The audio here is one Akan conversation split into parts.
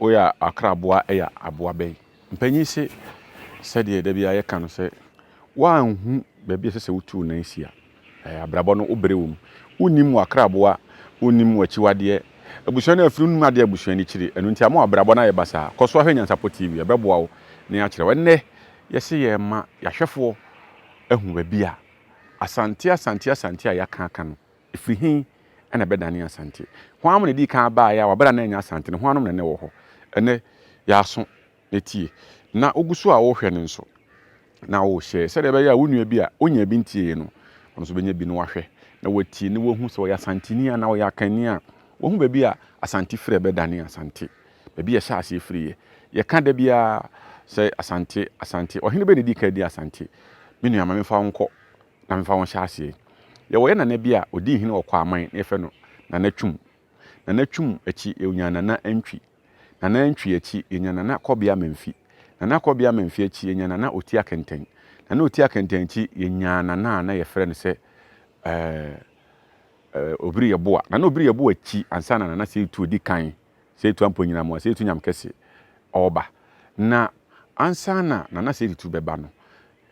Woyɛ akraboa yɛ aboa bɛn? Mpanyin se, sɛdeɛ da biara yɛka no sɛ, woanhu baabi a ɛsɛ sɛ wotu wo nan si a, abrabɔ no wobere wom. Wonnim w'akraboa, wonnim w'akyiwadeɛ. Abusua no afiri, wonnim adeɛ a abusua no kyiri. Ɛno nti ama w'abrabɔ no ayɛ basaa. Kɔ so ara hwɛ Nyansapɔ TV, ɛbɛboa wo na yɛakyerɛ wo. Ɛnnɛ, Yɛse yɛrema yɛahwɛfoɔ ahu baabi a Asante, Asante, Asante a yɛaka aka no, ɛfiri he na ɛbɛdane Asante? Hwan na ɛdii kan baeɛ a wɔabɛda na ɛnyɛ Asante no? Hwannom na na ɛwɔ hɔ? Ɛnnɛ, yɛ aso na tie. Na wogu so a worehwɛ no nso, na worehyɛ sɛdeɛ ɛbɛyɛ a wo nua bi a ɔnyaa bi ntieeɛ no, ɔno nso bɛnya bi na wahwɛ na watie na wahu sɛ ɔyɛ Asanteni anaa ɔyɛ Akanni a, wahu baabi a Asante firi a ɛbɛdane Asante. baabi a ɛhyɛ aseɛ firi yɛ. Yɛka da biara sɛ Asante, Asante. Ɔhene bɛn na ɛdi kan din Asante? Me nua, ma memfa wo nkɔ na memfa wo nhyɛ aseɛ. Yɛwɔ yɛn nana bi a ɔdii hene wɔ Kwaman na yɛfrɛ no Nana Twum. Nana Twum akyi yɛnyaa Nana Antwi. Nana Antwi akyi yɛnyaa Nana Kɔbea Mamfi. Nana Kɔbea Mamfi akyi yɛnyaa Nana Otia Kɛntɛn. Nana Otia Kɛntɛn akyi yɛnyaa Nana a na yɛfrɛ no sɛ ɛɛ ɛɛ Obiri Yeboa. Nana Obiri Yeboa akyi ansa na Nana Seitu di kan. Sɛ etu ampo nyina moa, sɛ etu nyam kɛse ɔɔba. Na ansaana na na sɛ etu bɛba no,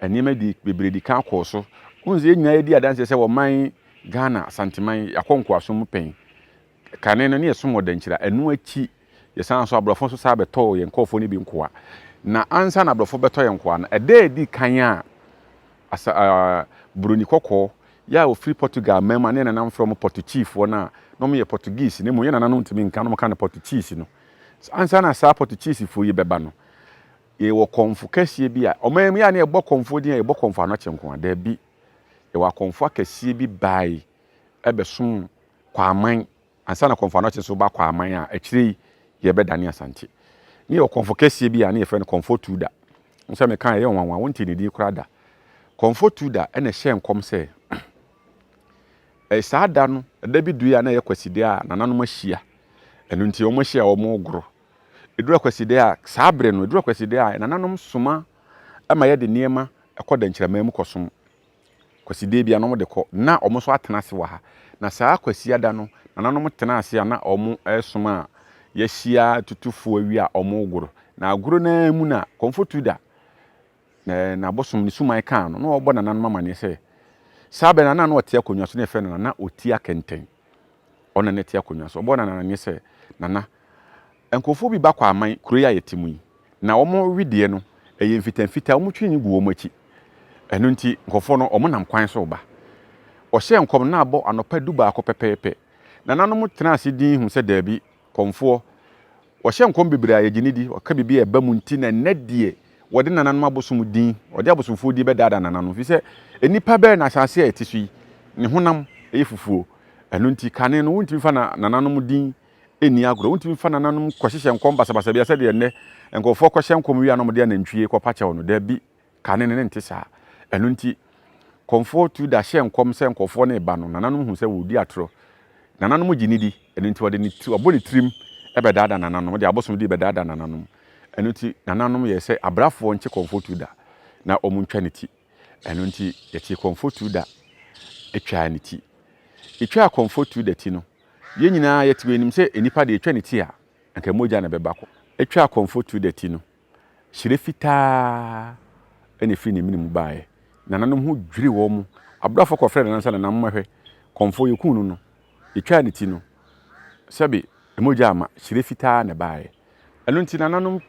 nneɛma di bebree di kan kɔɔ so. Wohu sɛ yɛn nyinaa yɛdi adanseɛ sɛ wɔ man Ghana, Asanteman, yɛakɔ nkoasom mu pɛn. Kane no ne yɛsom wɔ Dankyira. Ɛno akyi, yɛsan nso aborɔfo nso saa bɛtɔɔ yɛn nkurɔfoɔ no bi nkoa. Na ansaana aborɔfo bɛtɔ yɛn nkoa no, ɛda a ɛdi kan a asa, uh, buroni kɔkɔɔ Yɛ a wɔfiri Portugal man mu a na yɛn nananom frɛ wɔn Pɔtukyifoɔ no a na wɔyɛ Portuguese na mmom yɛn nananom ntumi nka na wɔka no Pɔtukyiisi no. Ansa na saa Pɔtukyiisifoɔ yi bɛba no, yɛwɔ kɔmfo kɛseɛ bi a ɔman mu yɛ a na yɛbɔ kɔmfoɔ din a yɛbɔ kɔmfo anɔkye nko a, daabi. Yɛwɔ akɔmfo akɛseɛ bi bae bɛsom Kwaaman ansa na Kɔmfo Anɔkye nso ba kɔɔ aman a akyire yi yɛbɛdane Asante. Ne yɛwɔ Kɔmfo kɛseɛ bi a ne yɛfrɛ no Kɔmfo Tuda. Wohu sɛ meka a ɛyɛ nwanwa, wontee ne din koraa da. Kɔmfo Tuda na ɛhyɛɛ nkɔm sɛ saa da no, da bi due a na ɛyɛ Kwaside a nananom ahyia. Ɛno nti wɔahyia a wɔregoro. Ɛduru Akwaside a, saa berɛ no, ɛduru Akwaside a nananom soma ma yɛde nneɛma kɔ dɛnkyɛmma mu kɔsom. Kwasidee biara na wɔde kɔ. Ná wɔn nso atena ase wɔ ha. Na saa Kwasiada no, nananom tenaa ase a na wɔresom a wɔahyia atutufoɔ awie a wɔregoro. Na agoro no ara mu na Kɔmfo Tuda na n'abosom ne suman kaa no. Na wɔrebɔ nananom amanneɛ sɛ saa bere no na na ɔte akonnwa so na yɛfrɛ no Nana Otia Kɛntɛn. Ɔno na na ɛte akonnwa so. Wɔbɔɔ no amanneɛ sɛ, Nana, Nkurɔfoɔ bi ba Kwaman, kuro yi a yɛte mu yi, na wɔn wedeɛ no, ɛyɛ mfitaa mfitaa, wɔtwi no gu wɔn akyi. Ɛno nti, nkurɔfoɔ no, wɔnam kwan so reba. Ɔhyɛɛ nkɔm na abɔ anɔpa dubaako pɛpɛɛpɛ. Nananom tenaa ase dinn huu sɛ daabi, kɔmfoɔ, wɔhyɛ nkɔm bebree a yɛgye no di, wɔka biribi a ɛba mu nti na ɛnnɛ deɛ wɔde nananom abosom din, wɔde abosomfoɔ din bɛdaadaa nananom, ɛfiri sɛ nnipa bɛyɛ na asase a yɛte so yi, ne honam yɛ fufuo. Ɛno nti, kane no, wontumi mfa nananom din nni agorɔ. Wontumi mfa nananom kɔhyehyɛ nkɔm basabasa biara sɛdeɛ nnɛ nkurɔfoɔ kɔhyɛ nkɔm wie a na wɔde anantwie kɔpa kyɛw no. Dabi, kane no, na ɛnte saa. Ɛno nti, Kɔmfoɔ tu da hyɛɛ nkɔm sɛ nkurɔfoɔ no reba no, nananom hu sɛ wɔredi atorɔ. Nananom gye no di, ɛno nti ɔde ne ti, ɔbɔ ne tirim bɛdaadaa nananom, ɔde abosomdie rebɛdaadaa nananom. Ɛno nti, nananom yɛɛ sɛ abrafoɔ nkye Kɔmfoɔ tu da na wɔntwa ne ti. Ɛno nti, yɛtee Kɔmfo Tuo da twaa ne ti. Yetwaa Kɔmfo Tuo da ti no, yɛn nyinaa yɛtew anim sɛ nnipa de yetwa ne ti a, anka mogya na ɛbɛba kɔ. Yetwaa Kɔmfo Tuo da ti no, hyire fitaa na efii ne mene mu baeɛ. Nananom ho dwiriw wɔn. Abrafo kɔfrɛɛ nananom sɛ, Nana, mommɛhwɛ. Kɔmfo, yekum no no, yetwaa ne ti no, sɛbe mogya amma, hyire fitaa na ɛbaeɛ. Ɛno nti nananom,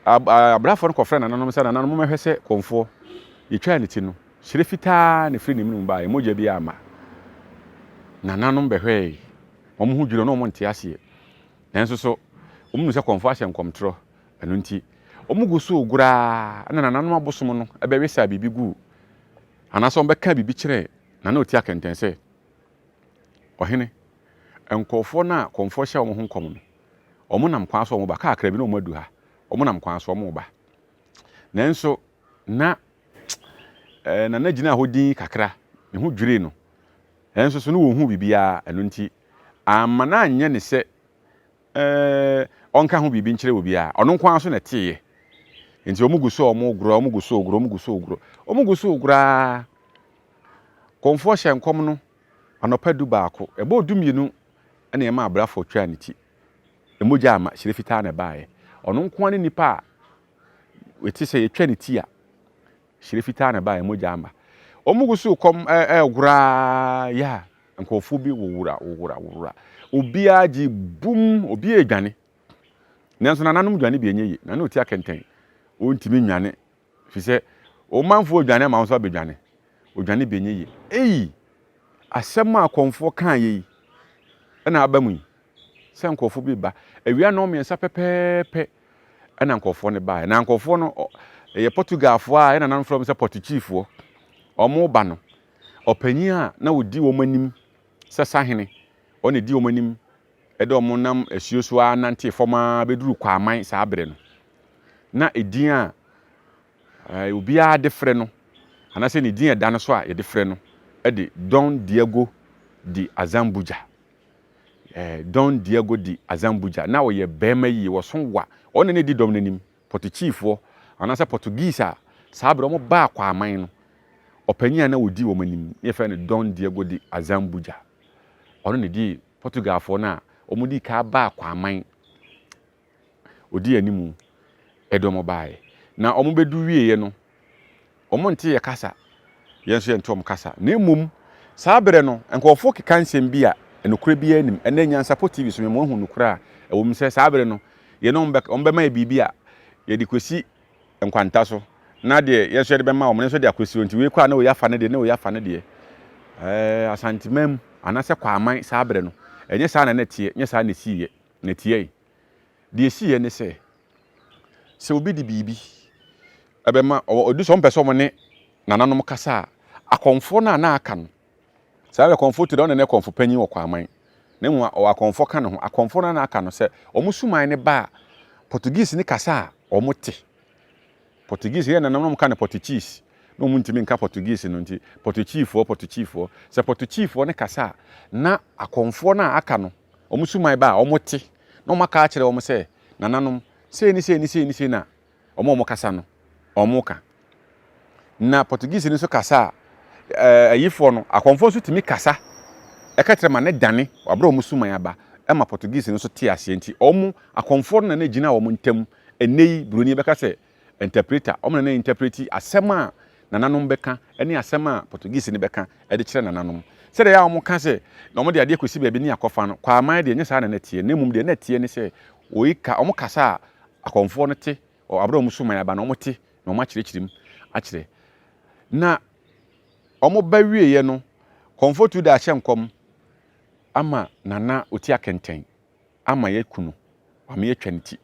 abrafo no kɔfrɛɛ nananom sɛ, Nananom, mommɛhwɛ sɛ kɔmfoɔ. Yɛtwaa ne ti no, hyerɛ fitaa na ɛfiri ne mene mu baeɛ, mogya biara amma. Nananom bɛhwɛɛe. Wɔn ho dwiriw, na wɔnte aseɛ. Nanso so wɔnnim sɛ kɔmfoɔ ahyɛ nkɔmtorɔ? Ɛno nti, wɔgu so regoro ara na nananom abosom no bɛwesaa biribi guu, anaasɛ wɔbɛkaa biribi kyerɛɛ na na ɔtia kɛntɛn sɛ, Ɔhene, nkurɔfoɔ no a kɔmfoɔ hyɛɛ wɔn ho nkɔm no, Wɔn nam kwan so wɔn ba kakra bi na wɔn adu ha. Wɔn nam kwan so wɔn ba. Nanso na ɛɛ na na gyina hɔ din kakra. Ne ho dwirii no. Nanso so no wɔnhu biribiara ɛno nti amma no anyɛ ne sɛ ɛɛ ɔnka ho biribi nkyerɛ obiara. Ɔno nko ara nso na ɛteeɛ. Nti wɔn gu so a wɔn goro, wɔn gu so goro, wɔn gu so goro, wɔn gu so goro ara. Kɔmfoɔ hyɛ nkɔm no anɔpa du baako. Ɛbɔɔ du mmienu na ɛma abrafo twaa ne ti. Mogya amma, hyire fitaa na ɛbaeɛ. Ɔno nko ara ne nipa a ɛte sɛ yɛtwa ne ti a, hyire fitaa na ɛbaeɛ, mogya amma. Wɔn gu so kɔm ɛregora yɛ a, nkurɔfoɔ bi wowora wowora wowora. Obiara gye bum, obiara redwane. Nanso nananom dwane bi ɛnyɛ yie. Nana ɔti akɛntɛn, ɔntumi nnwane. Efisɛ wo manfo redwane ama wo nso abedwane. Odwane bi nyɛ yiye. Eii! Asɛm a akɔmfoɔ kaeɛ yi na aba mu yi, sɛ nkurɔfoɔ bi reba. Awia nnɔnmiɛnsa pɛpɛɛpɛ na nkurɔfoɔ no baeɛ. Na nkurɔfoɔ no, ɛyɛ Portugalfoɔ a ɛna nananom frɛ wɔn sɛ Pɔtukyifoɔ. Wɔreba no, ɔpanyin a na ɔdi wɔn anim sɛ sahene, ɔno na ɛdi wɔn anim ɛde wɔn nam asuo so ara nantee fam ara bɛduruu Kwaman saa berɛ no. Na edin a obiara de frɛ no anaasɛ ne din a ɛda no so a yɛde frɛ no de Don Diego de Azambuja. Eh, Don Diego de Azambuja. Na ɔyɛ barima yie, wɔso wa. Ɔno na ɛdi dɔm no anim. Pɔtukyiifoɔ anaasɛ Portuguese a saa berɛ wɔn baa Kwaman no, ɔpanyin a na ɔdi wɔn anim ne yɛfrɛ no Don Diego de Azambuja. Ɔno na ɛdi Portugalfoɔ no a wɔdii kan baa Kwaman ɔdii animu de wɔn baeɛ. Na wɔbɛdu wieeɛ no, wɔnte yɛn kasa, yɛn nso yɛnte wɔn kasa. Na mmom, saa berɛ no, nkurɔfoɔ keka nsɛm bi a nokorɛ biara nnim. Ɛnnɛ, Nyansapo TV so, mema wɔahu nokorɛ a ɛwɔ mu sɛ saa berɛ no, yɛne wɔn bɛka, wɔbɛma yɛn biribi a yɛde kɔsi nkwanta so na deɛ yɛn nso yɛde bɛma wɔn no nso de akɔsi hɔ nti wei kɔ a na wei afa ne deɛ na wei afa ne deɛ ɛɛ asanteman mu anaasɛ kwaman saa berɛ no ɛnyɛ saa na na ɛteɛ nyɛ saa na ɛsiiɛ na ɛteɛe deɛ ɛsiiɛ ne sɛ sɛ obi de biribi ɛbɛma ɔdu sɛ ɔmpɛ sɛ ɔmo ne nananom kasa a akɔmfoɔ no a na aka no Saa ara Kɔmfo Tode a ɔne ne Kɔmfo panyin wɔ Kwaman, ne nwoma ɔwɔ akɔmfo ka ne ho. Akɔmfo no ara na aka no sɛ wɔn suman no baa Portuguese ne kasa a wɔte. Portuguese yɛ nanam na wɔka no Portuchis, na wɔn ntumi nka Portuguese no nti Portuchifoɔ, Portuchifoɔ. Sɛ Portuchifoɔ no kasa a na akɔmfoɔ no a aka no wɔn suman baa wɔte na wɔaka akyerɛ wɔn sɛ nananom sei ne sei ne sei ne sei na wɔn a wɔkasa no, wɔka. Na Portuguese no nso kasa a, ɛɛ ayifoɔ no, akɔmfoɔ nso tumi kasa ɛka kyerɛ ma ne dane wɔabrɛ wɔn suman aba ɛma Portuguese no nso te aseɛ nti wɔn akɔmfoɔ no na na ɛgyina wɔn ntam. Ɛnnɛ yi buroni bɛka sɛ interpreter, wɔn na na interpreti asɛm a nananom bɛka ne asɛm a Portuguese no bɛka de kyerɛ nananom. Sɛdeɛ ɛyɛ a wɔka sɛ na wɔde adeɛ kɔsi baabi ne akɔfa no, Kwaaman deɛ ɛnyɛ saa na na ɛteɛ na mmom deɛ na ɛteɛ ne sɛ Woi ka, wɔn kasa a akɔmfoɔ no te, wɔ abere a wɔn so man aba no, wɔn te, na wɔn akyerɛkyerɛ mu akyerɛ. Na wɔn ba wie yɛ no, kɔmfoɔ tu da ahyɛ nkɔm ama nana ɔti akɛntɛn, ama yɛ ku no, ama yɛ twa ne ti.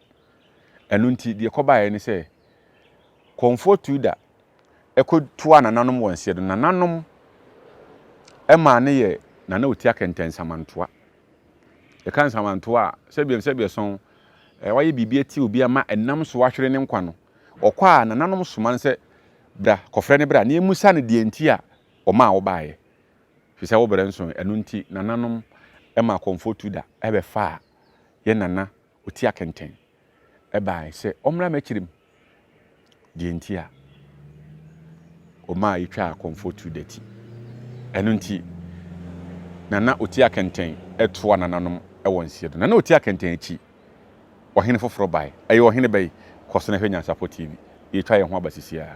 Ɛno nti, deɛ kɔba yɛ ne sɛ, kɔmfoɔ tu da, ɛkɔ tua nananom wɔn seɛ do, nananom ɛma ne yɛ nana ɔti akɛntɛn samantoa. Yɛka nsamantow a, sɛbea nsɛbea sɔn a wɔayɛ biribi atia obi ama ɛnam so ahwere ne nkwa no, ɔkɔ a nananom soma no sɛ, Bra, kɔfrɛ no bra, na yemmisa no deɛ nti a ɔmaa wobaeɛ. Ɛfiri sɛ wo berɛ nsoe. Ɛno nti, nananom ma akɔmfo tu da bɛfaa yɛn nana Otia kɛntɛn bae sɛ ɔmmra m'akyiri mu. Deɛ enti a ɔmaa yɛtwaa akɔmfoɔ tu da ti. Ɛno enti, Nana Otia kɛntɛn toa nananom wɔ nseɛ do. Nana Otia kɛntɛn akyi, ɔhene foforɔ bae. Ɛyɛ ɔhene bɛn? Kɔ so na hwɛ Nyansapɔ TV. Yɛretwa yɛn ho aba sisiaa.